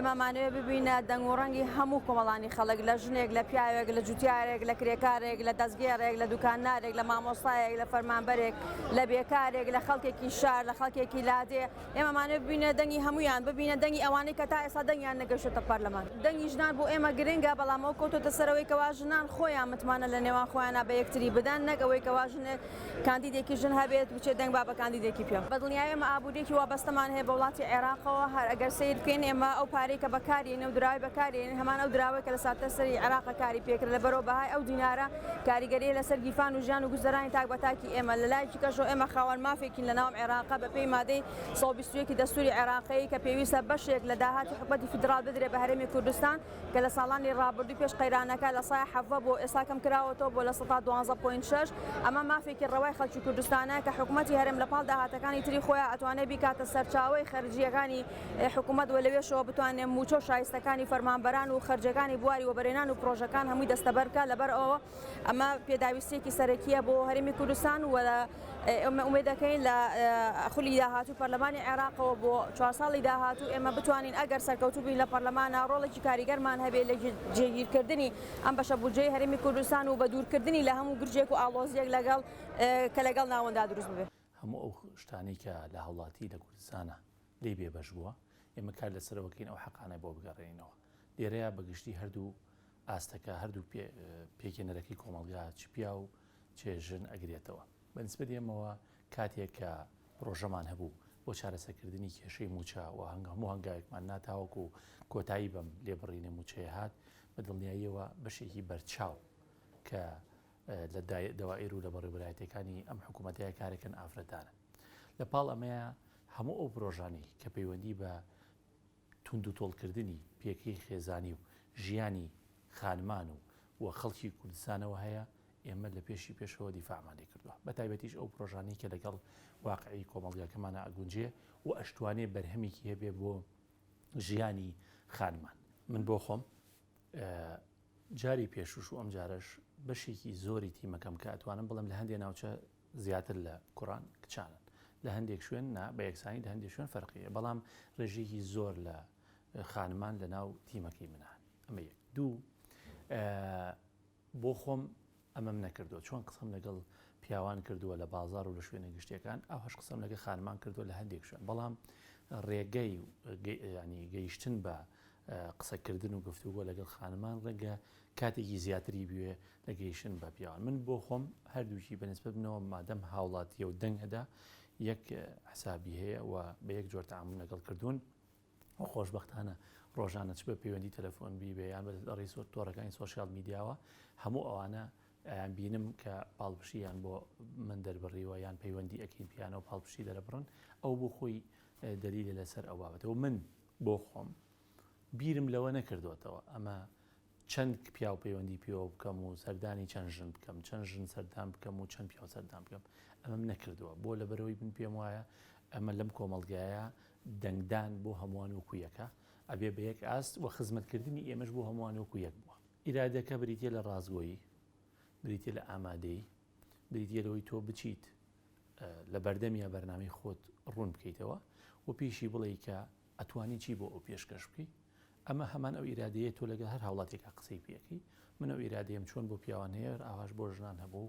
ئێمامانەوێ ببینە دەنگ و ڕەنگی هەموو کۆمەڵانی خەڵک، لە ژنێک، لە پیاوێک، لە جوتیارێک، لە کرێکارێک، لە دەستگێڕێک، لە دوکاندارێک، لە مامۆستایەک، لە فەرمانبەرێک، لە بێکارێک، لە خەڵکێکی شار، لە خەڵکێکی لادێ، ئێمەمانەوێ ببینە دەنگی هەموویان، ببینە دەنگی ئەوانەی کە تا ئێستا دەنگیان نەگەشتۆتە پەرلەمان. دەنگی ژنان بۆ ئێمە گرنگە، بەڵام ئەوە کەوتۆتە سەرەوەی کەوا ژنان خۆیان متمانە لە نێوان خۆیانا بە یەکتری بدەن، نەک ئەوەی کەوا ژنێک، کاندیدێکی ژن هەبێت بچێت دەنگ با بە کاندیدێکی پیاو بەدڵنیای ئێمە ئابووریەکی وابەستەمان هەیە بە وڵاتی عێراقەوە هەر ئەگەر سەیر بکەین ئێمە ئەو پارەی کە بەکارێنێ و دراوی بەکارێنین هەمان ئەو دراوەی کە لە ساتەرسەری عێراقە کاری پێکرد لە بەرەو بەهای ئەو دینارە کاریگەریە لەسەر گیرفان و ژیان و گوزەرانی تاک بە تاکی ئێمە لە لایەکی کەشەوە ئێمە خاوەن مافێکین لە ناوم عێراقە بە پێی مادەی سەد و بیست و یەک ی دەستوری عێراقی کە پێویستە بەشێک لە داهاتی حکومەتی فیدراڵ بدرێ بە هەرێمی کوردستان کە لە ساڵانی ڕابردووی پێش قەیرانەکە لە سای حەڤە بۆ ئێستا کەم کراوەتەوە بۆ لە سەدا دوانزە پۆینت شەش، ئەمە مافێکی ڕەوای خەڵکی کوردستانە کە حکومەتی هەرێم لە پاڵ داهاتەکانی تری خۆیان ئەتوانێ بیکاتە سەرچاوەی خەرجییەکانی حکومەت و لەوێشەوە بتوانێ مووچە و شایستەکانی فەرمانبەران و خەرجییەکانی بواری وەبەرهێنان و پڕۆژەکان هەمووی دەستەبەر بکا لەبەر ئەوە ئەمە پێداویستیەکی سەرەکیە بۆ هەرێمی کوردستان و ئێمە ئومێد دەکەین لە خولی داهاتوو پەرلەمانی عێراقەوە بۆ چوار ساڵی داهاتوو ئێمە بتوانین ئەگەر سەرکەوتوو بین لە پەرلەمانە ڕۆڵێکی کاریگەرمان هەبێ لە جێگیرکردنی ئەم بەشە بودجەی هەرێمی کوردستان و بە دوورکردنی لە هەموو گرژێک و ئاڵۆزیەک لەگەڵ کە لەگەڵ ناوەنددا دروست بێ. هەموو ئەو شتانەی کە لە هاوڵاتی لە کوردستانە لێی بێبەش بووە ئێمە کار لەسەرەوە دەکەین ئەو حەقانە بۆ بگەڕێنینەوە. لێرەیا بە گشتی هەردوو ئاستەکە هەردوو پێکهێنەرەکەی کۆمەڵگا چ پیا و چێ ژن ئەگرێتەوە. بە نسبەت ئێمەوە کاتێک کە پرۆژەمان هەبوو بۆ چارەسەکردنی کێشەی مووچە و هەموو هەنگاوێکمان نا تاوەکو کۆتایی بەم لێبڕینە مووچەیە هات، بە دڵنیاییەوە بەشێکی بەرچاو کە لە دەوائیر و لە بەڕێوەبەرایەتییەکانی ئەم حکوومەتەیە کارەکەن ئافرەتانن. لە پاڵ ئەمەیە هەموو ئەو پرۆژانەی کە پەیوەندی بە توندوتۆڵکردنی پێگەی خێزانی و ژیانی خانمان و و خەڵکی کوردستانەوە هەیە، ئێمە لە پێشی پێشەوە دیفاعمان لێ کردووە، بەتایبەتیش ئەو پرۆژانەی کە لەگەڵ واقعی کۆمەڵگاکەمانا ئەگونجێ و ئەشتوانێ بەرهەمێکی هەبێ بۆ ژیانی خانمان. من بۆ خۆم جاری پێشووش و ئەمجارەش بەشێکی زۆری تیمەکەم کە ئەتوانم بڵێم لە هەندێ ناوچە زیاتر لە کوڕان کچانن لە هەندێک شوێن نا بە یەکسانی لە هەندێک شوێن فەرقی هەیە بەڵام ڕێژەیەکی زۆر لە خانمان لە ناو تیمەکەی منە هەن ئەمە یەک دوو بۆ خۆم ئەمەم نەکردو چۆن قسەم لەگەڵ پیاوان کردووە لە بازار و لە شوێنە گشتەکان ئەو هەش قسەم لەگە خانمان کردووە لە هەندێک شوێن بەڵام ڕێگەی ینی گەیشتن بە قسەکردن و گفتوگۆ لەگەڵ خانمان ڕێگە کاتێکی زیاتری بوێ دەگەیشن بە پیاوان من بۆ خۆم هەردووکی بەنسبت بنەوە مادەم هاوڵاتیە و دەنگ ئەدا یەک حسابی هەیە و بە یەک جۆر تعامل لەگەڵ کردوون خۆشببختانە ڕۆژانە چ بە پەیوەندی تەلەفۆن بیبێ یان بە ڕیس و تۆڕەکانی سوۆسیال میدیاوە هەموو ئەوانە ئەیان بینم کە پاڵپشییان بۆ من دەربڕیوە یان پەیوەندی ئەکین پیانە و پاڵپشی دەرەبڕن ئەو بۆ خۆی دەلیلە لەسەر ئەو بابەتەوە من بۆ خۆم بیرم لەوە نەکردوێتەوە ئەمە چەند پیاو پەیوەندی پێوە بکەم و سەردانی چەند ژن بکەم، چەند ژن سەردان بکەم و چەند پیاو سەردان بکەم، ئەمەم نەکردووە، بۆ؟ لەبەرئەوەی من پێم وایە ئەمە لەم کۆمەڵگایە دەنگدان بۆ هەمووان وەکو یەکە، ئەبێ بە یەک ئاست و خزمەتکردنی ئێمەش بۆ هەمووان وەکو یەک بووە. ئیرادەکە بریتییە لە ڕاستگۆیی، بریتییە لە ئامادەیی، بریتییە لەوەی تۆ بچیت لە بەردەمیا بەرنامەی خۆت ڕوون بکەیتەوە و پێیشی بڵێی کە ئەتوانی چی بۆ ئەو پێشکەش بکەی؟ ئەمە هەمان ئەو ئیرادەیە تۆ لەگەل هەر هاوڵاتیەکا قسەی پێ ئەکەی، من ئەو ئیرادەیەم چۆن بۆ پیاوان هەیە هەر ئاواش بۆ ژنان هەبوو،